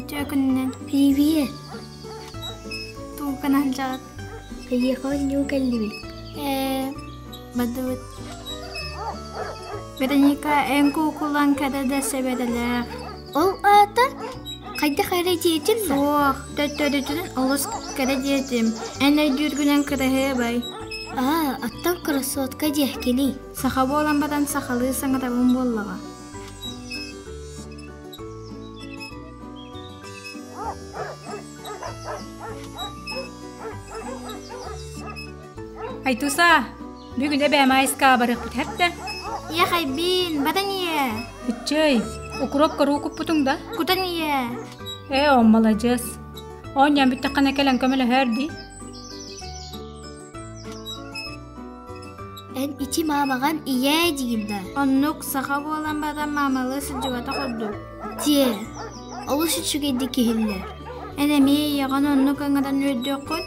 Үтөө күнүнэн привет! Тугу гынан дьаат? Эйиэхэ оонньуу кэллибит. Ээ, бадыбыт Вероника эн куукулан кэдэ да сэбэдэлээх ол аата хайдах эрэ диэтим да суох төттөрүтүнэн олус кэрэ диэтим эн өйдүүргүнэн кыраһыабай аа оттон кроссовка диэхкиний саха буолан баран сахалыы саҥатабын буоллаҕа Айтуса, бүгүн эбээмээйискэ абарыахпыт эртэ. Иэхэйбиин, батан ийэ. Ыччай, укроп куруукуппутуҥ да? Кутан ийэ. Ээ, оммаладьыас. Оонньоон бүттэххинэ кэлэн көмөлөһөөр дии. Эн ити маамаҕан ийээ диин да? Оннук саха буолан баран маамалыы сылдьыбата курдук. Тиэ, олус үчүгэйдик иһиллэр. Эн эмиэ ийэҕин оннук аңыран үөрдүөххүт.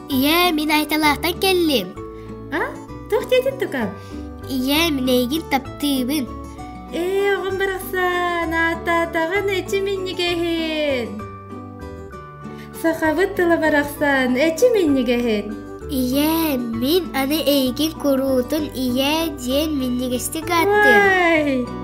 Ийээ, мин Айталаахтан кэллим. А? Туох диэтин тукам? Ийээ, минэйгин таптыыбын. Ээ, оҕом барахсан, ааттаатаҕын эчи минньигэһин. Сахабыт тыла барахсан, эчи минньигэһин. Ийээ, мин аны эйигин куруутун ийээ диэн минньигэстик ааттыам. Уай!